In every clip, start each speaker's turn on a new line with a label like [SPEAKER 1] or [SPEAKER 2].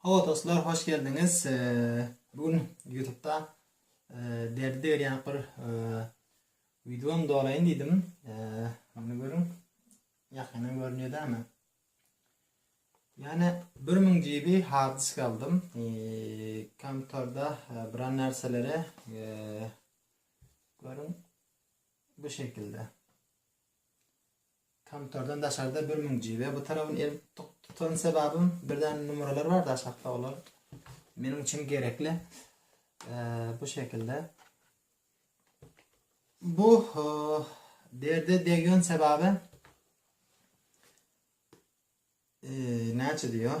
[SPEAKER 1] Hawa dostlar hoş geldiňiz. Bu gün YouTube'da derdi degirýän bir videony dolaýyn diýdim. Muny görüň. Ýakyndan görünýär dämi? Ýani 1000 GB hard disk aldym. Kompýuterde bir narsalara görüň bu şekilde. Kompýuterden daşarda bir müň GB bu tarabyn el tutan sebabym bir däne numaralar bar daşakda olar meniň üçin gerekli bu şekilde bu derde degýän sebabi e, näçe diýýär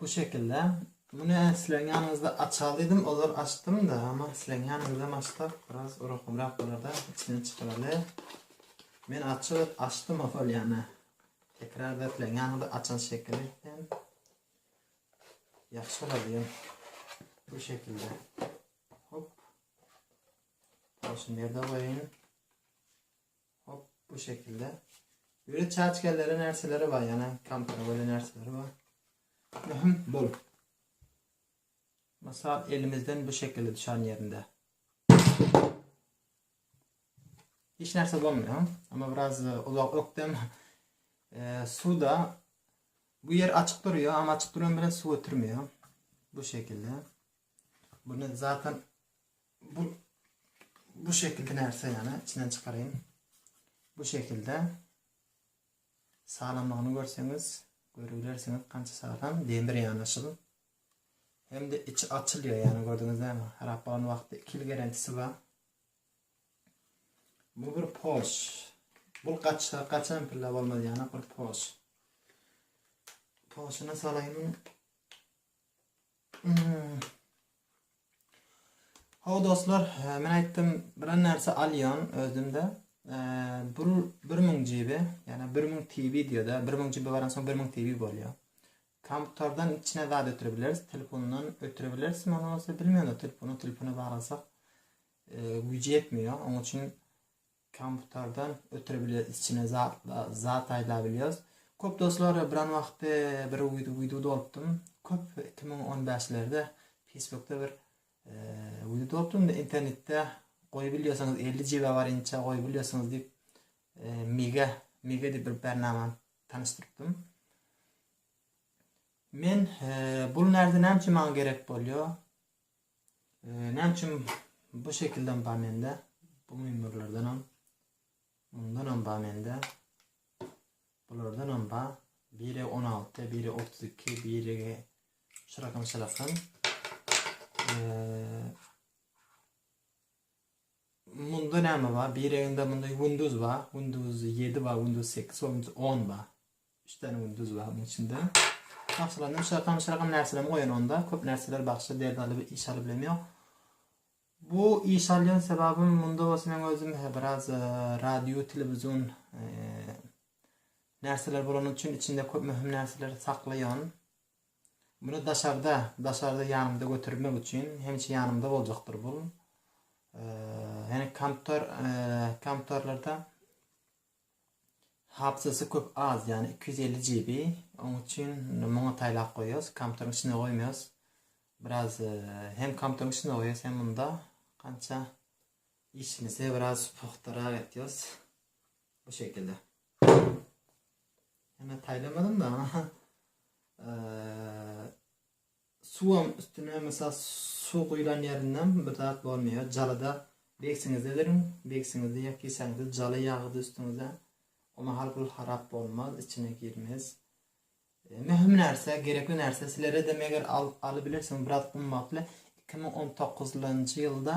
[SPEAKER 1] Bu şekilde. Muny sileň ýanyňyzda açal diýdim, ozal açdym-da, emma sileň ýanyňyzam açsak biraz urakamrak bolar-da, içinden çykaryly. Men açyk et açdym ozal ýana. Tekrarda sileň ýanyňyzda açan şekili etsem ýagşy bolar diýen. Bu şekilde. Hop. Şunu ýerde goýaýyn. Hop bu şekilde. Ýöne çaçkalary närseleri bar ýana kompara göre närseleri bar. Möhüm bol. Mysal elimizden bu şekilde düşen yerinde. Hiç narsa bolmuyor ama biraz e, uzak öktem e, suda bu yer açık duruyor ama açık duran bile su götürmüyor. Bu şekilde. Bunu zaten Bu bu şekilki närse ýa-da içinden çykaryn. Bu şekilde salamlygyny görseňiz, görübilersiňiz kança salam, demir ýanaşyl. Hem de içi açylýar, ýa-da gördüňiz näme? Harap bolan wagty 2 ýyl garantisi bar. Bu bir pos. Bu gaçsa gaçan pilla bolmaz ýa-da bir pos. Posuna salaýyn. Hawa dostlar, men aýtdym, bilen närse alýan özümde. Bir 1000 GB, ýa-da 1000 TB diýýär-de, 1000 GB baransoň 1000 TB bolýar. Kompýuterden içine zat ötürip bileris, telefondan ötürip bileris, men bolsa bilmedim, telefonu telefona baglasak güýji ýetmeýär. Onuň üçin Komputerden ötüre bilýas içine zatlar zat aýda bilýas. Köp dostlar biran wagty bir wid wideo dolupdym. Köp iki müň on bäşlerde Facebookda bir wideo dolupdym da internetde goýup bilýärsiňiz elli jiba bar inçe goýup bilýärsiňiz diýip mega mega diýip bir bernamany tanyşdyrypdym. Men bul närse näme üçin maňa gerek bolýar? Näme üçin bu şekilden bar mende? Bu mümürlerden hem, bundan hem bar mende. Bulardan hem bar. Biri 16, biri 32, biri şurakan şurakan. Ee, Munda näme bar? Bireginde munda Windows bar. Windows ýedi bar, Windows sekiz bar, Windows on bar. Üç däne Windows bar munuň içinde. Bagşylarynam şirakam şirakam närselerimi goýan onda. Köp närseler bagşy derdi alyp iş alyp bilem ýok. Bu iş alýan sebabym munda bolsa men özüm he biraz radio televizion närseler bolany üçin içinde köp möhüm närseleri saklaýan. Muny daşarda, daşarda ýanymda götermek üçin, hemişe ýanymda boljakdyr bul. Ýani komptor, komptorlarda hapsasy köp az, ýani 250 GB. Onuň üçin muňa taýlap goýýas, komptoryň içine goýmaýas. Biraz hem komptoryň içine goýýas, hem munda kança işimizi biraz pugtarak etýäs. Bu şekilde. Heme taýlamadan da suwam üstüne mesela su guýlan ýerinden bir zat bolmaýar. Jalada begsiňizde beriň, begsiňizde ýa kisäňizde jala ýagydy üstüňize. O mahal gül harap bolmaz, içine girmez. E, möhüm närse, gerekli närse sizlere de meger al, alybilirsiň biraz gymmatly. 2019-njy ýylda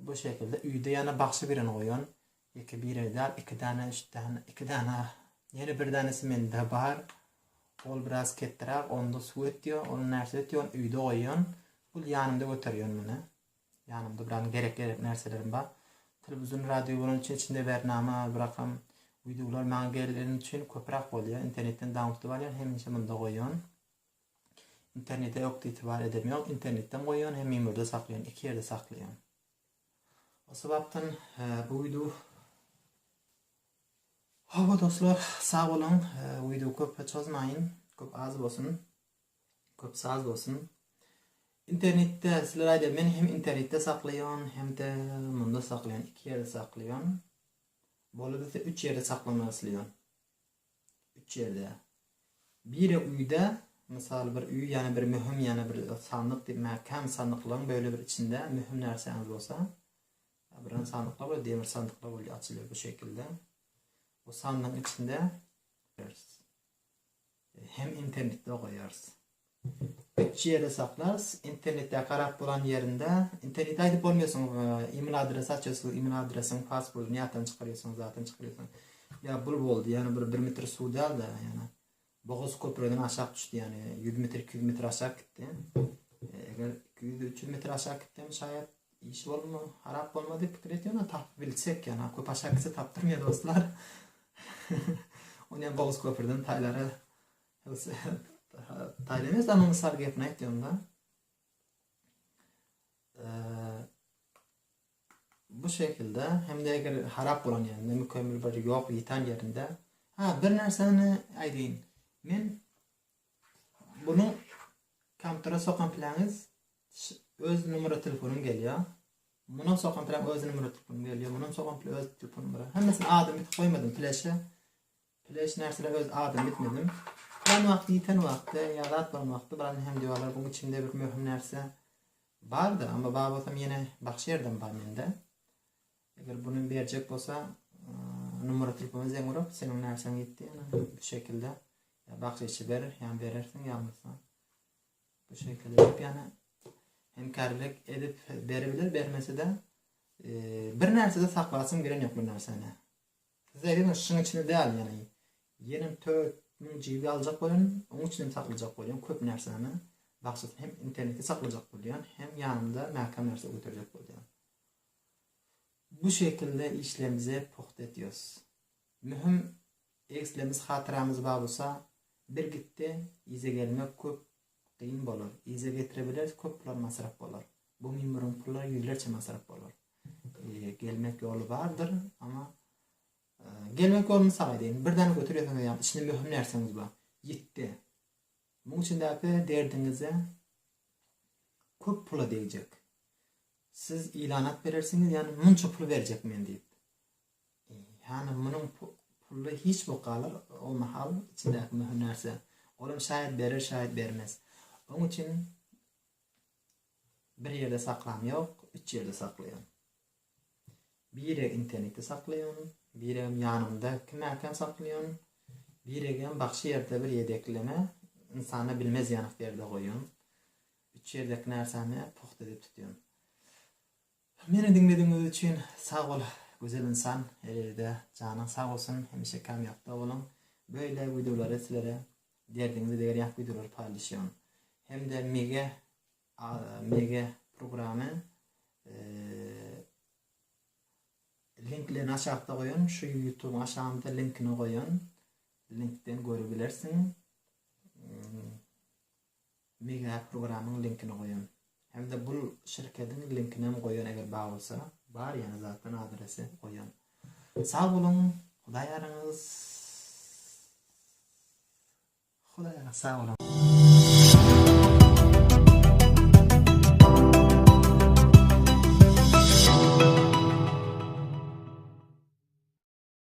[SPEAKER 1] Bu şekilde üýde ýana bagşy birini goýan, ýeke bire däl, iki däne, üç däne, iki däne, ýene bir dänesi mende bar. Ol biraz ketdiräk, onda suw ötýär, ony närse ötýär, ony üýde goýýan. Ol ýanymda göterýän muny. Ýanymda biraz gerek-gerek närselerim bar. Telewizor, radio bolany üçin içinde bernama, birakam wideolar maňa geleni üçin köpräk bolýar. Internetden daunlodlap alýan, hemişe munda goýan. Internete ökde itibar edemýoň, internetden goýýan hem memorda saklaýan iki ýerde saklaýan. O sebapdan uýdu Hawa dostlar, sag boluň. Uýdu köp çozmaýyn, köp az bolsun. Köp saz bolsun. Internetde sizler aýda men hem internetde saklaýan, hem-de munda saklaýan, iki ýerde saklaýan. Bolubitse üç ýerde saklamagy isleýän. Üç ýerde. Biri uýda, mysal bir uý ýa bir möhüm ýa bir sandyk diýip mäkäm sandyklaryň böle bir içinde möhüm närsäňiz bolsa abyran sandyklar we demir sandyklar bolýar açylýar bu şekilde. Bu sandygyň içinde hem internetde okaýarys. Üç ýerde saklas, internetde garap bolan ýerinde, internetde aýdyp bolmaýasyň, email adresi açasyň, email adresiň paswordyny ýatdan çykarýasyň, zatdan çykarýasyň. Ýa bul boldy, ýani bir bir metr suw dälde, ýani bogaz köpreden aşak düşdi, ýani ýüz metr, iki ýüz metr aşak gitdi. Eger iki ýüz, üç ýüz metr aşak gitsem şaýat iş bolma, harap bolmaz diýip pikir etýän, ony tapyp bilsek, ýani köp aşak gitse tapdyrmaýa dostlar. Ony hem bogaz köprüden taýlara Taýdan ýa saňa mysal gepini aýtýan-da. Bu şekilde hem de eger harap bolan ýerinde, mükemmel bir ýok ýitan ýerinde, ha bir närseni aýdyň. Men bunu kompýutere sokan planýyz öz numara telefonym gelýär. Munyň sokan plan öz numara telefonym gelýär. Munyň sokan plan öz telefon numara. Hemmesini adymy koymadım pleşe. Ýöne hiç närsele öz adymy etmedim. Plan wagty ýiten wagty, ýa zat bolan wagty birazdan hem diwalar buň içinde bir möhüm närse bardyr, amma bar bolsam ýene bagşy ýerden bar mende. Eger buny berjek bolsa numara telefona zeň urup seniň närsäň ýitdi ýa bu şekilde ýa bagşy içi berer ýa berersiň ýa bolmasa bu şekilde edip ýa hemkärlik edip berebilir bermese de bir närsede saklasym gelen ýok bu närseni. Size heňiş şuň içinde däl ýaly. Ýenem töt müň GB aljak bolýan, oň içinde saklajak bolýan köp närsemi, bagşysy hem interneti saklajak bolýan, hem ýanymda mäkäm närse göterjek bolýan. Bu şekilde işlerimize pugta etýos. Möhüm egslemiz hatyramyz bar bolsa, bir gitde yza gelmek köp Gyn bolar. Yza getirebileris köpler masraf bolar. Bu mimuriň pullar ýüzlerçe masraf bolar. Gelmek ýoly bardyr, amma gelmek ýoly mysal aýdaýyn. Bir däne götür ýöseňiz ýa içinde möhüm närseňiz bar. Ýitdi. Muň içindäki derdiňize köp pula degjek. Siz ilanat berersiňiz, ýani munça pul berjek men diýip. Hany munuň pully hiç bok galar o mahal içindäki möhüm närse. Olam şaýat berer şaýat bermez. Oň üçin bir ýerde saklam ýok, üç ýerde saklaýan. Birek internetde saklaýan, biregem ýanymda kimäkäm saklaýan, biregem bagşy ýerde bir ýedekleme ynsana bilmez ýanyk ýerde goýan. Üç ýerdeki närsämi pugta edip tutýan. Meni diňledigiňiz üçin sag bol gözel ynsan Elewide janyň sag bolsun hemişe kamýapda boluň beýle wideolary sizlere derdiňizi begerýänk wideolary paýlaşýan hemde mige a mige programy linklerini aşakda goýan şu ýutubyň aşagynda linkini goýan linkden görebilersiň. Megapp programyň linkini goýan. Hemde bul şirkediň linkinem goýan eger bar bolsa. Bar ýene zatdan adresi goýan. Sag boluň Hudaý ýaryňyz Hudaý ýaryňyz sag boluň.